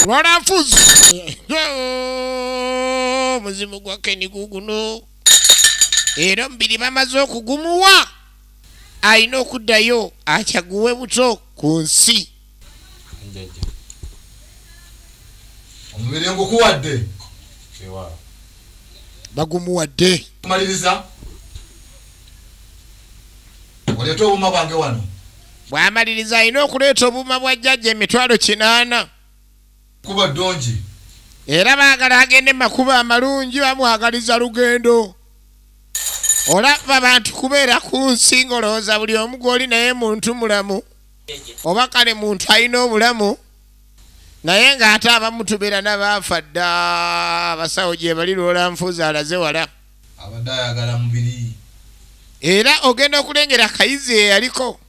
lwala nfuzi omuzimu gwa keni guguno era omubiri bamaze okugumuwa alina okuddayo akyaguwe buto ku nsi njajja omubiri ngukuwadde ewala bagumuwadde maliriza oleeta obuuma bwange wano bwamaliriza alina okuleeta obuuma bwa jjajja emitwalo kinaana kuba ddungi era baagala agende makuba amalungi bamwagaliza lugendo olaba bantu kubeera ku nsi ngolowooza buli omu gwoli naye muntu mulamu oba kale muntu alina obulamu naye ng'ate abamu tubeera nabaafa dda abasawo gyebali lwola nfuuzi alaze wala abadde ayagala mubiri era ogenda okulengera akayizi eyaliko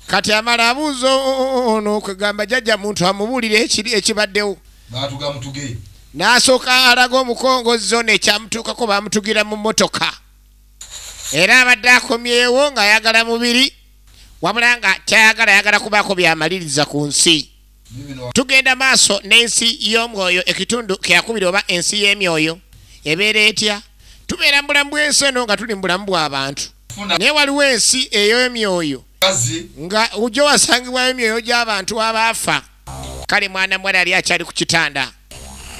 kati amala abuuza ono kwegamba jajja muntu amubuulire ekiri ekibaddewo baatuga mutuge n'asooka alaga omukongo zona ekyamutuukako baamutugira mu mmotoka era abadde akomyewo ng'ayagala mubiri wabula nga kyayagala ayagala kubaako byamaliriza ku nsi tugenda maaso n'ensi y'omwoyo ekitundu kyakubiri oba ensi y'emyoyo ebeera etya tubeera mu bulamu bw'ensi eno nga tuli mu bulamu bw'abantu naye waliwo ensi ey'emyoyo nga ojja wasangibwayo emyoyo gy'abantu abaafa kale mwana mwala yali akyali ku kitanda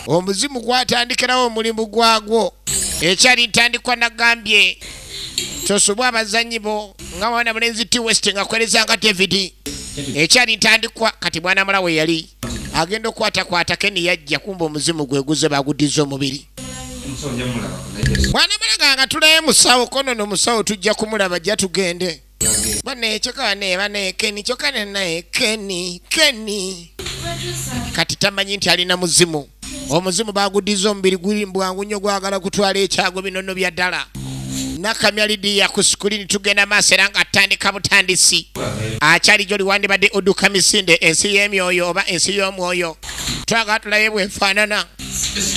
omuzimu gwatandikirawo omulimu gwagwo ekyali ntandikwa nagambye kyosobwa abazanyi bo nga mwana mulenzi t west nga kwereza nga david ekyali ntandikwa kati mwana mula we yali agenda okukwatakwata keni yajja kumba omuzimu gweguze baguddiza omubiri mwana mulaga nga tulayo musawo kono nomusawo tujja kumulaba jja tugende bane kyokane bane keni kyokane naye keni keni kati tamanyi nti alina muzimu omuzimu bagudiza omubiri guli mbwangu nnyo gwagala kutwala ekyago binono bya ddala nakamya lidiya ku sikulini tugenda maaso era nga atandika butandisi akyali gyoli wandibadde oduka misinde ensi y'emyoyo oba ensi y'omwoyo twagala tulabe bwefaanana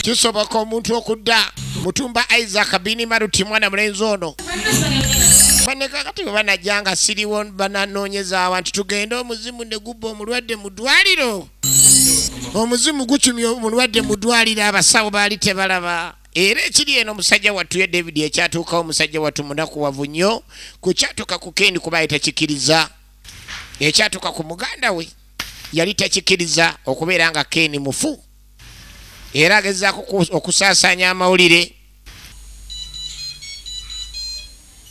kisoboka omuntu okudda mutumba isaac bini maruti mwana mulenzi ono banekakati bwe banajja nga siriwo bananoonyezawa nti tugende omuzimu ne gubba omulwadde mu ddwaliro omuzimu gucumya omulwadde mu ddwaliro abasawo baali tebalaba era ekiri eno omusajja wattu ye david ekyatuukawo omusajja wattu munakuwavu nnyo ku kyatuuka ku kendi kuba ye takikiriza ekyatuuka ku muganda we yali takikiriza okubeera nga keeni mufu era agezaako okusaasaanya amawulire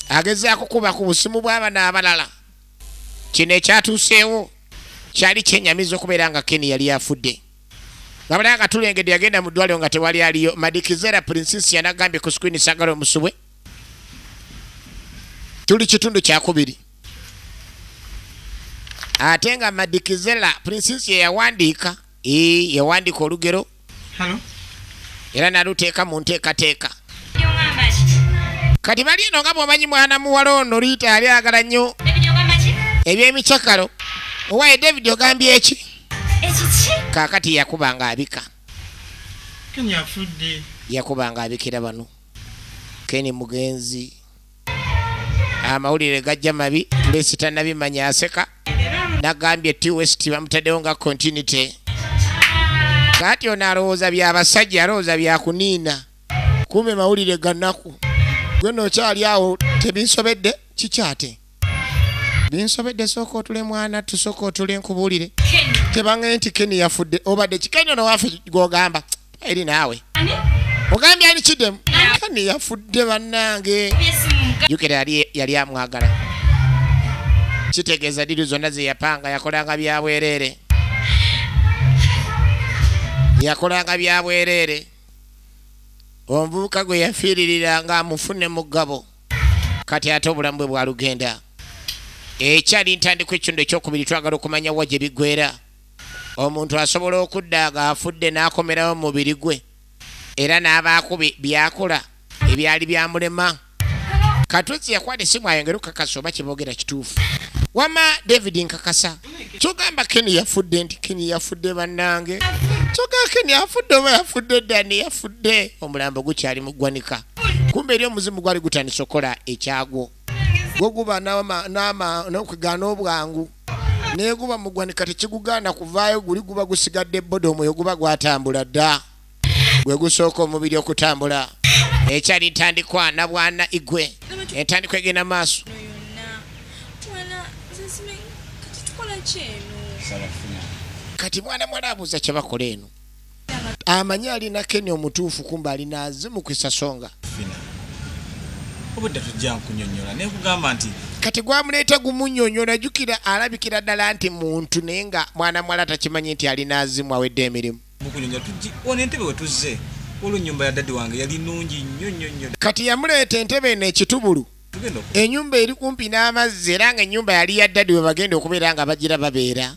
agezaako kuba ku busimu bw'abana abalala kino ekyatuuseewo kyali kyenyamiza okubeera nga keni yali afudde ngabala nga tulengedde yagenda mu ddwaliro nga tewali aliyo madikizera prinsis yanagambye ku skwini sagala omusubwe tuli kitundu kyakubiri ate nga madikizela prinsis yeyawandiika yawandika olugero era naluteeka mu nteekateeka kati bali eno nga bwomanyi mwana muwala ono liita yali agala nnyo ebyemicakalo owaye david ogambye eki kakati yakuba nga abika yakuba nga abikira bano keni mugenzi amawulire gajja mabi pulesi tanabimanya aseka nagambye t west bamutaddewo nga continuity kati ono alowooza byabasajja alowooza byakuniina kume mawulire ganaku gwe nokyali awo tebinsobedde kikyate binsobedde sooka otule mwana tusooka otule nkubuulire tebangaye nti keni yafudde obadde kikeni ono wafe gwogamba eri naawe ogambye ani kidemu kani yafudde bannange jukira yali amwagala kitegeeza diri zonna zeyapanga yakolanga byabwereere yakolanga byabwereere omuvubuka gwe yafiiririra nga amufune mugabo kati ate obulamu bwe bwalugenda ekyali ntandikwa ekitundu ekyokubiri twagala okumanya wa gye bigwera Omuntu asobola okudda nga afudde n'akomerawo mu mubiri gwe era n'abaako by'akola ebyali byamulema. Katuzzi yakwata essimu ayongere okukakasa oba kye boogera kituufu. Wamma David nkakasa. Kyogamba Kenny yafudde nti Kenny yafudde bannange. Kyogamba Kenny afudde oba yafudde Danny yafudde. Omulambo gukyali mu ggwanika. Kumbe eri omuzimu gwali gutandise okukola ekyagwo. Gwo guba n'okugaana obwangu. neguba mugwanika tekigugaana kuvaayo guli guba gusigadde boda omwoyo guba gwatambula dda gwe gusooka omubiri okutambula ekyali ntandikwa nabwana igwe entandikwa egenda maaso kati mwana mwala abuuza kyebakola eno amanyi alina keni omutuufu kumba alina azimu kwisasonga obudde tujja nkunyonyola naye kugamba nti kati gwamuleeta gumunyonyola jukira alabikira ddala nti muntu naye nga mwana mwala takimanyi nti alina azimu awedde emirimu mukunyonyola tuji ona entebe wetuzze olwo nyumba ya dadi wange yali nungi nnyo nnyo nnyo kati yamuleeta entebe eno ekitubulu enyumba eri kumpi n'amazzi era nga enyumba yali ya dadi webagenda okubeera nga bagira babeera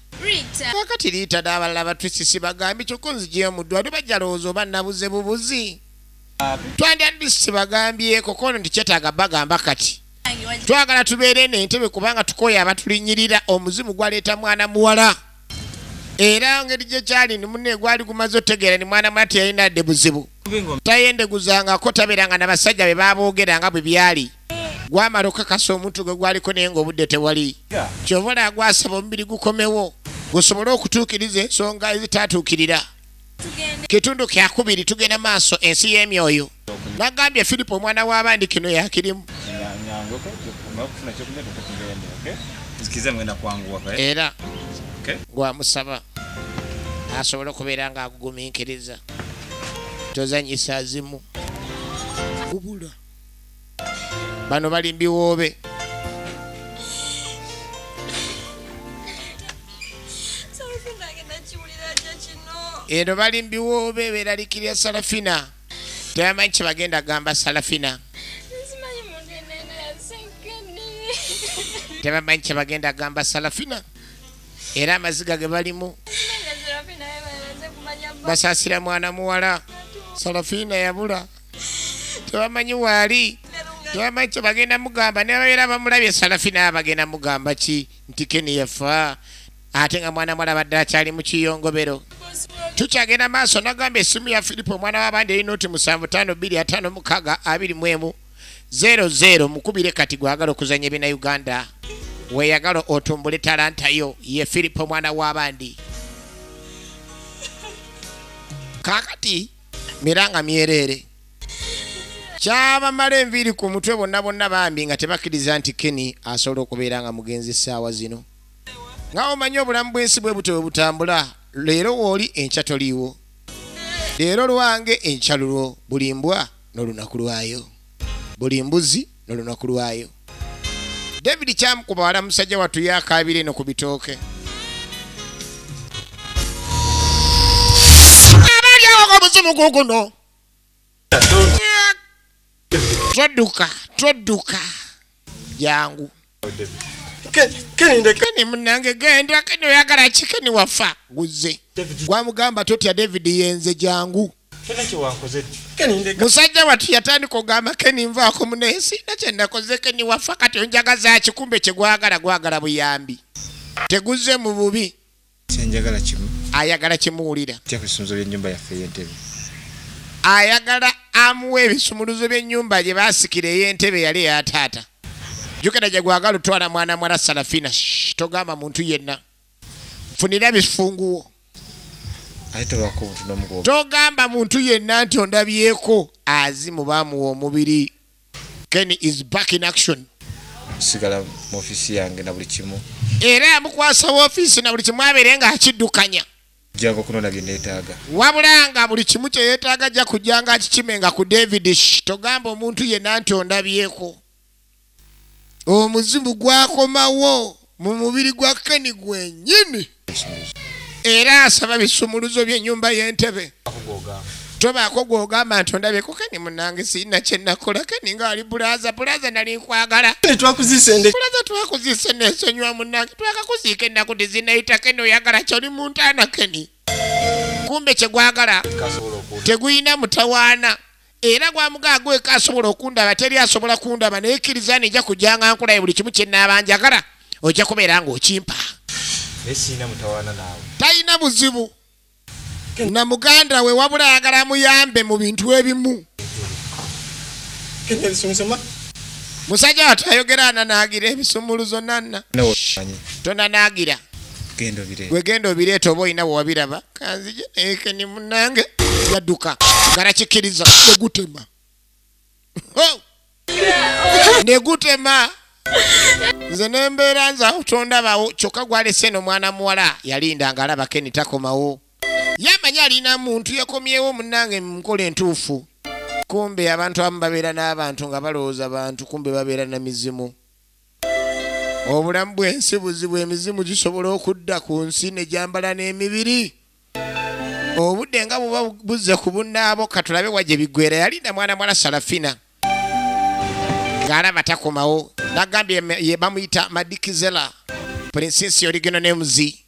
kakati liita n'abalala batwisisi bagambi kyokka onzijeyo mu ddwaliro bajalowooza oba nabuze bubuzi twandyandiisi bagambyeko kono nti kyetaaga bagamba kati twagala tubeere nentebe kubanga tukooya abatulinyirira omuzimu gwaleeta mwana muwala era ngeri gye kyali ni munne gwali gumaze otegeera ni mwana mwana teyalina dde buzibu tayendeguzangako tabeeranga na basajja be baaboogera nga bwe byali gwamala okukakasa omuntu gwe gwaliko naye ng'obudde tewali kyova olaa gwasaba omubiri gukomewo gusobole okutuukiriza ensonga ezitaatuukirira kitundu kyakubiri tugenda maaso ensi y'emyoyo nagambye filipo omwana w'abandi kino yakirimu era gwamusaba asobole okubeera nga agugumiikiriza tozanyisa zimu kubula bano bali mbiwoobe eno bali mbiwoobe beralikirya salafina tebamanyi kyebagenda gamba salafina tebamanyi kyebagenda gamba salafina era amaziga ge balimu basasira mwana muwala salafina yabula tebamanyi waali tebamanyi kye bagenda mugamba nebabeera bamulabye salafi naye bagenda mugamba ki nti keni yafa ate nga mwana mwala badde akyali mu kiyongobero tukyagenda maaso nagamba esimu ya filipo omwana wabandi erina oti musanvu tano biri atano mukaga abiri mwemu zero zero mukubire kati gwagala okuzanya ebina uganda weyagala otumbule talanta yo ye filipo omwana wabandi kakati miranga myereere kyabamala enviiri ku mutwe bonna bonna bambi nga tebakkiriza nti keni asobola okubeera nga mugenzi essaawa zino nga omanyi obulamu bw'ensi bwe butyo bwe butambula leero wooli enkya toliiwo leero lwange enkya lulwo buli mbwa n'olunaku lwayo buli mbuzi nolunaku lwayo david kyamukuba wala musajja watu yakabira eno ku bitooke abalyawo omuzimu guguno todduka todduka jangu keni munange genda keni oyagala ki keni wafa guzze gwamugamba totya david yenze jangu musajja watu yatandika ogamba keni nvaako munaye siina kyenakoze keni wafa kati onjaga zaki kumbe kyegwagala gwagala buyambi teguzze mu bubi ayagala kimuwulira ayagala amuwa ebisumuluzo by'ennyumba gye baasikira ey'entebe yali eya taata jukira gye gwagala otwala mwana mwala salafina togamba muntu yenna funira bifunguwo togamba muntu yenna nti ondabyeko azimu bamuwa omubiri ken is back in action sigala mu ofisi yange na buli kimu era yamukwasa ofiisi na buli kimu abeere nga akiddukanya jjangu okunona bye neetaaga wabula nga buli kimu kye yeetaaga ajja kujjanga akikimenga ku david sh togamba omuntu yenna nti ondabyeko omuzimu gwakomawo mu mubiri gwa keni gwenyini era asaba bisumuluzo byenyumba yentebe tobaako gwogamba nti ondabye ku keni munange sirina kyenakola keni nga ali bulaza bulaza nali nkwagala bulaza twakuzise nesonyiwa munange twakakuziika ennaku tizinayita keni oyagala kyoli muntaana keni kumbe kyegwagala teguyina mutawaana era gwamugaa gweka asobola okundaba teri asobola kundaba naye kkiriza nija kujanga nkulaye buli kimu kyenaabanjagala ojja kubeera ng'okimpa talina buzibu na muganda we wabula ayagala amuyambe mu bintu ebimu musajja watu ayogera ananaagira ebisumuluzo nanna tonanaagira gwe genda obireeta oba olina wewabiraba kanzije ekeni munange yadduka garakikkiriza negutema negutema nze nembeera nza tondabawo kyokka gwalese no mwana muwala yalinda nga alaba keni takomawo yamanyi alina muntu yakomyewo munange munkola entuufu kumbe abantu abamu babeera n'abantu nga balowooza bantu kumbe babeera na mizimu obulamu bwensi buzibu emizimu gisobola okudda ku nsi ne gyambala n'emibiri obudde nga buba buzze ku bunnaabo katulabe wa gye biggwera yalinda mwana mwala salafina ng'alaba takomawo nagambye ye bamuyita madikizela princesi oligeno ne muzi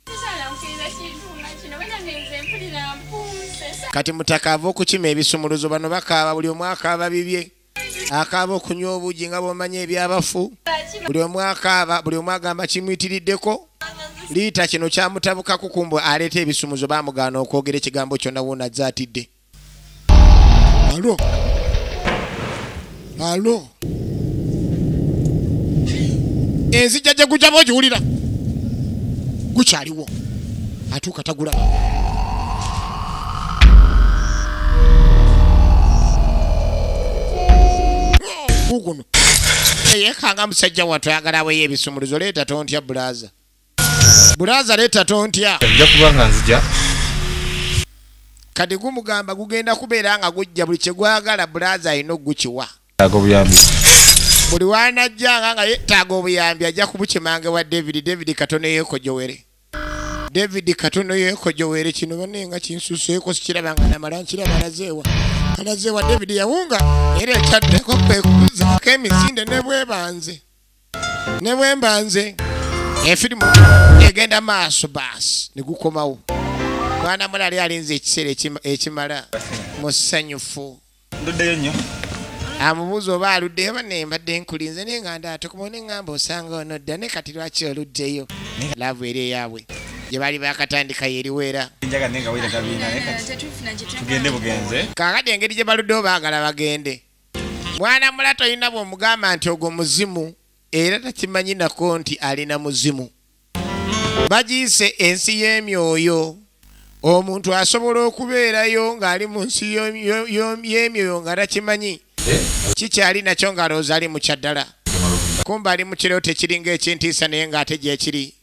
kati mutaka ava okukima ebisumuluzo bano bakaaba buli omwaka ababibye akaaba okunywa obugi nga bwomanya ebyabafu buli omu akaaba buli omu agamba kimuyitiriddeko liita kino kyamutabukako kumbu aleeta ebisumuzo bamugaana okwogera ekigambo kyonna wona azze atidde alo alo enzijja gye gujaba ogiwulira gukyaliwo atuuka tagula guno yekanga musajja watu ayagala aweyo ebisumuluzo leeta tontya bulaza bulaza leeta tontya nja kuba nga nzija kati gumugamba gugenda kubeera nga gujja buli kyegwagala bulaza alina okugukiwa yetaaga obuyambi buli wanajjanga nga yetaaga obuyambi ajja kubukimanga wa david david katono yekojowere david katono yekojowere kino bane nga kinsuseeko sikiraba nga namala nkiraba alazeewa alazeewa david yawunga era ekyaddeko kwekuzaako emisinde ne bwebanze ne bwembanze efirimu egenda maaso baasi ne gukomawo mwana mulali alinze ekiseera ekimala musanyufu nduddeyo nnyo amubuuza oba aluddeyo bane mbadde nkulinze naye nga ndaatukumawo ne ŋŋamba osanga ono dda ne kati lwaki oluddeyo laavu eri eyaabwe gye baali bakatandika yeriweera kakati engeri gye baluddewo baagala bagende mwana mula tolina bw'omugamba nti ogwo muzimu era takimanyi nako nti alina muzimu bagiyise ensi y'emyoyo omuntu asobola okubeerayo ng'ali mu nsi y'emyoyo nga takimanyi kikyali nakyo ng'alowooza ali mu kyaddala kumba ali mu kirooto ekiringa ekintiisa naye ng'ate gyekiri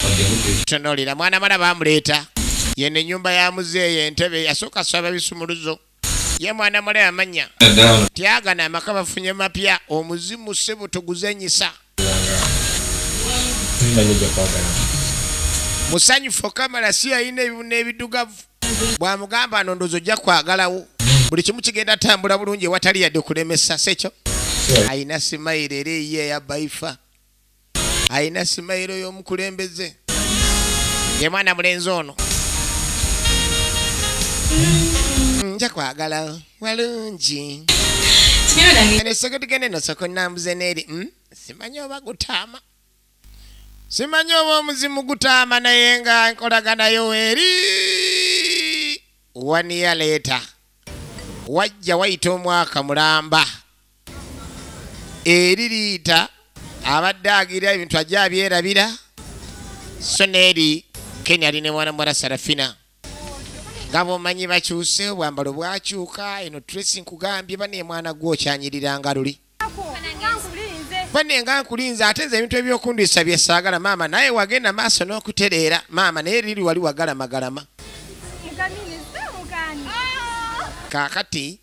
tonolira mwana mala bamuleeta yeno ennyumba ya muzeeyo entebe yasooka saba bisumuluzo ye mwana mule amanya tyagana amaka bafunye mapya omuzimu sebo toguzanyisa musanyufu okamala si yalina ebibuna ebidugavu bwamugamba nondozo ojja kwagalawo buli kimu kigenda tambula bulungi ewatali yadde kulemesa sekyo alina simayiro era eyiye eyabaifa alina simayiro y'omukulembeze ye mwana mulenzi ono nja kwagala walungi nesoko tugende nosoko nambuze neeri hmm? simanyi oba gutaama simanyi oba omuzimu gutaama naye nga nkolaganayo eri waniya leeta wajja wayita omwaka mulamba eri liyita abadde agira ebintu ajja abyerabira so neeri kenya ali ne mwana muwala sarafina nga bomanyi bakyuse obwambalo bwakyuka eno tresi nkugambye bane mwana gwe okyanyirira nga luli bane nga nkulinze ate nze ebintu ebyokundisa byesaagala maama naye wagenda maaso n'okutereera maama naye liri wali wagala magalama kaakati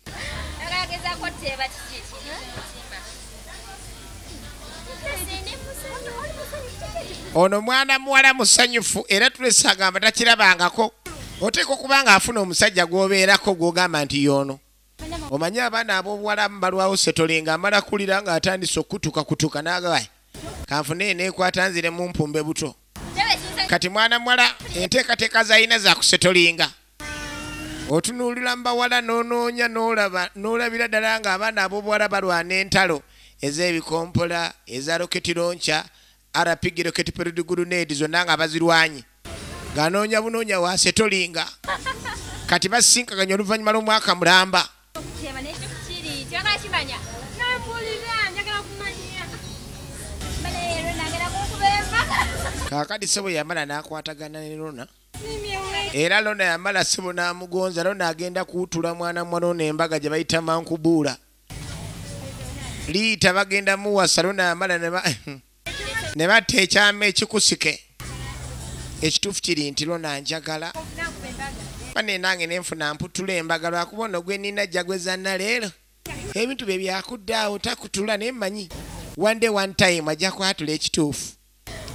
ono mwana muwala musanyufu era tulese agamba takirabangako oteeka okuba nga afuna omusajja gwobeerako gwogamba nti yoono omanyi abaana abobuwala mubalwawo setolinga amala kulira nga atandise okukutuka kutuka nagawaya kanfune nekwata nzire mumpumbe buto kati mwana muwala enteekateeka zalina zakusetolinga otunuulira mu bawala n'onoonya n'olaba n'olabira ddala ng'abaana ab'obuwala balwana entalo ez'ebikompola eza roketi lonca arapigi roketi perudiguluneedi zonna nga bazirwanye ng'anoonya bunoonya wasetolinga kati basinkaganya oluvannyuma lw'omwaka mulamba Kyeba naye kyo kiri kyagala kimanya nampulira njagala kumanya bale leero nagera kunkuba empaka kaakati sebo yamala n'akwatagana ne lona era lona yamala sebo n'amugonza lona agenda kuwutula mwana mwano n'embaga gye bayita mankubuula liita bagenda muwasa lona yamala ne ne batta ekyama ekikusike ekituufu kiri nti lona njagala bane nange nenfuna mputula embaga lwakuba ono gwenina jagwezanna leero ebintu bye byakuddaawo takutula naye mmanyi one day one time ajja kwatula ekituufu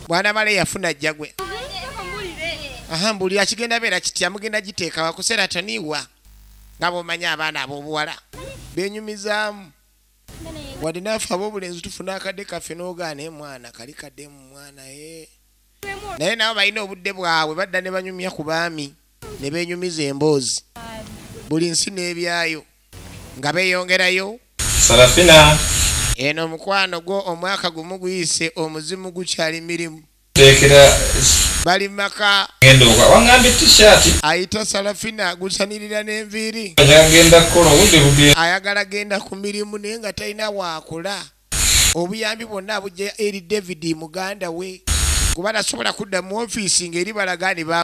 bwana bale yafuna jagwe aha mbuulira kigenda beera kitya mugenda giteeka wakuseera toniwa nga bwomanyi abaana ab'obuwala benyumizaamu wadde naafe ab'obulenzi tufuna akadde kaffe n'ogaana e mwana kali kadde mu mwana e naye nabo balina obudde bwabwe badda ne banyumya ku baami ne benyumiza emboozi buli nsi n'ebyayo nga beeyongerayo sarafina eno omukwano gwo omwaka gumu guyise omuzimu gukyali mirimu bali maka ayita salafina agusanirira n'enviiri ayagala genda ku mirimu naye nga talina waakula obuyambi bwonna abujja eri david muganda we kuba nasobola kudda mu ofiisi ng'eri balagaani ba